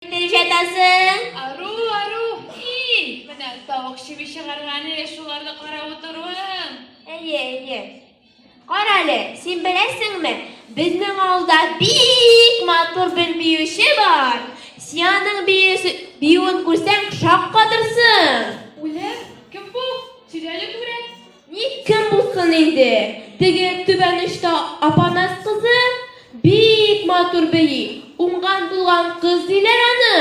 Итеп җатасың. Ару, ару, һи! Менә тавык чеби чыгарган әле шуларны карап утыруың. Әйе, әйе. Карале, син беләсеңме, безнең авылда бик матур бер биюче бар. Сианың биюсе, биюен күрсәң, шаккатырсың. Үлем? Кем бу? Тирәли күрә. Ник кем булсын инде, теге түбән очта Апанас кызы бик матур бии, уңган-булган кыз диләр аны.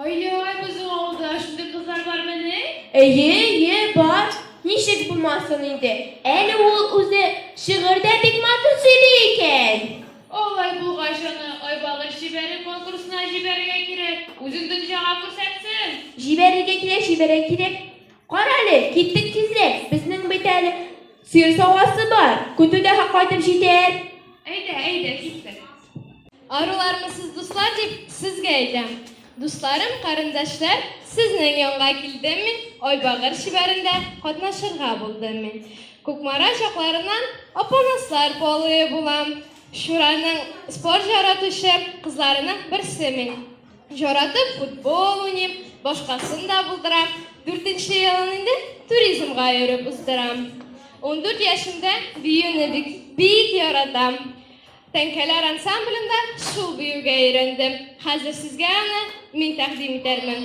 Ай-яй, безнең авылда шундый кызлар бармени? Әйе, әйе, бар. Ничек булмасын инде, әле ул үзе шигырь дә бик матур сөйли икән. Алай булгач, аны Айбагыш җибәре конкурсына җибәрергә кирәк, үзен дөнҗага күрсәтсен. Җибәрергә кирәк, җибәрергә кирәк. Карале, киттек тизрәк, безнең бит әле сыер савасы бар, көтү дә кайтып җитәр. Әйдә, әйдә, киттек. Арулармы сез, дуслар, дип сезгә әйтәм. Дусларым, карендәшләр, сезнең янга килдем мин, Айбагыр чибәрендә катнашырга булдым мин. Кукмара чакларыннан Апанаслар полые булам. Чураның спорт яратучы кызларының берсе мин. Яратып футбол уйныйм, башкасын да булдырам. Дүртенче елын инде туризмга йөреп уздырам. Ундүрт яшемдә биюне бик, бик яратам. Тәңкәләр ансамблендә шул биюгә өйрәндем. Хәзер сезгә аны мин тәкъдим итәрмен.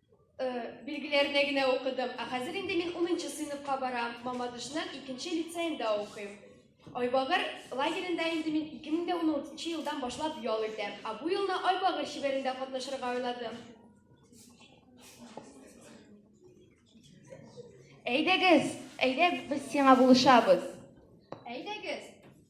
Билгеләрне генә укыдым. Ә хәзер инде мин 10 сыйныфка барам. Мамадышның 2 лицеенда укыйм. Айбагыр лагеренда инде мин 2016 елдан башлап ял итәм. Ә бу елны Айбагыр чибәрендә катнашырга уйладым. Әйдәгез, әйдә без сиңа булышабыз. Әйдәгез.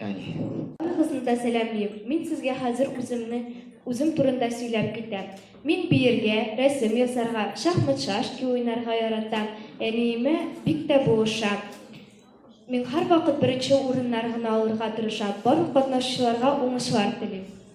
Барыгызны да сәламлим. Мин сезгә хәзер үземне үзем турында сөйләп китәм. Мин биергә, рәсем ясарга, шахмат шашки уйнарга яратам. Әниемә бик тә булыша. Мин һәрвакыт беренче урыннар гына алырга тырышам. Барлык катнашучыларга уңышлар телим.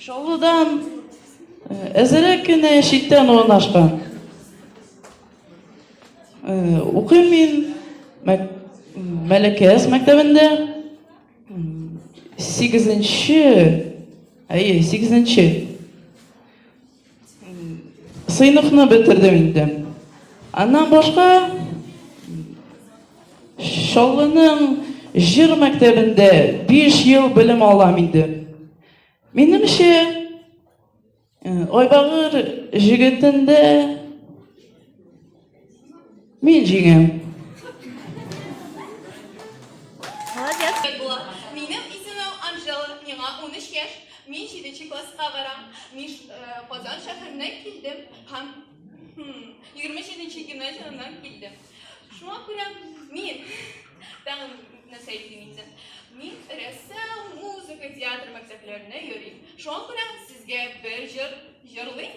Чаллыдан әзерәк кенә читтән урнашкан. Укыйм мин Мәләкәс мәктәбендә. Сигезенче, әйе, сигезенче. Сыйныфны бетердем инде. Аннан башка Чаллының җыр мәктәбендә 5 ел белем алам инде. Минемчә, э, Айбагыр җегетендә Мин җиңәм. Молодец. Була. Минем исемем Анжела, миңа 13 яшь. Мин 7 класска барам. Мин Казан шәһәреннән килдем һәм 27 гимназияннан килдем. Шуңа күрә мин тагын нәрсә әйтим инде. Мин рәссам, музыка, театр мәктәпләренә йөрим. Шуңа күрә сезгә бер җыр җырлыйм.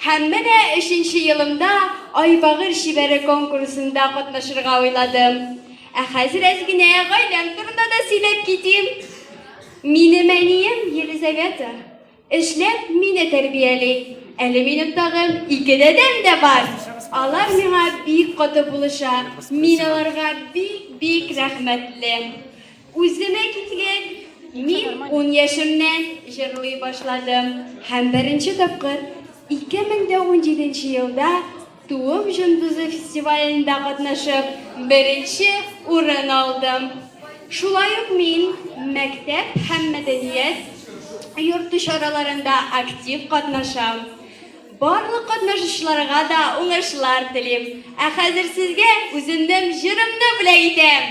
Һәм менә өченче елымда Айбагыр чибәре конкурсында катнашырга уйладым. Ә хәзер әз генә гаиләм турында да сөйләп китим. Минем әнием Елизавета, эшләп, мине тәрбияли. Әле минем тагын ике дәдәм дә бар. Алар миңа бик каты булыша, мин аларга бик-бик рәхмәтле. Үземә китсәк, мин ун яшемнән җырлый башладым һәм беренче тапкыр 2017 елда Туым җондызы фестивалендә катнашып, беренче урын алдым. Шулай ук мин мәктәп һәм мәдәният йорты чараларында актив катнашам. Барлык катнашучыларга да уңышлар телим. Ә хәзер сезгә үземнең җырымны бүләк итәм.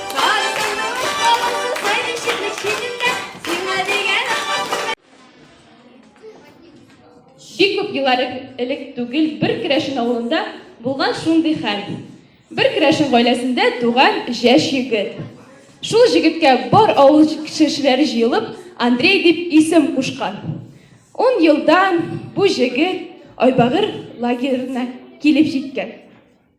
Бик күп еллар элек түгел бер керәшен авылында булган шундый хәл. Бер керәшен гаиләсендә туган җәш егет. Шул җегеткә бар авыл кешеләре җыелып Андрей дип исем кушкан. Ун елдан бу җегет Айбагыр лагерына килеп җиткән.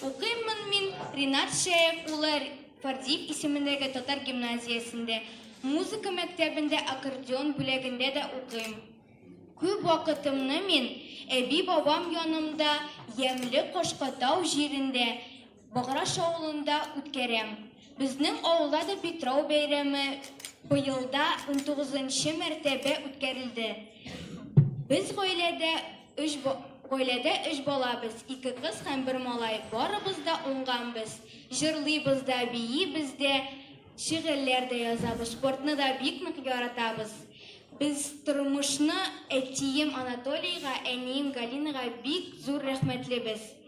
Укыйммын мин Ринат Шәяф улы Фардиев исемендәге татар гимназиясендә, музыка мәктәбендә аккордеон бүләгендә дә укыйм. Күп вакытымны мин әби-бабам янымда Ямьле Кашкатау җирендә, Баграш авылында үткәрәм. Безнең авылда да Питрау бәйрәме быел да унтугызынчы мәртәбә үткәрелде. Без гаиләдә өч гаиләдә өч балабыз, ике кыз һәм бер малай. Барыбыз да уңганбыз. Җырлыйбыз да, биибез дә, шигырьләр дә язабыз. Спортны да бик нык яратабыз. Без тормышны әтием Анатолийга, әнием Галинага бик зур рәхмәтлебез.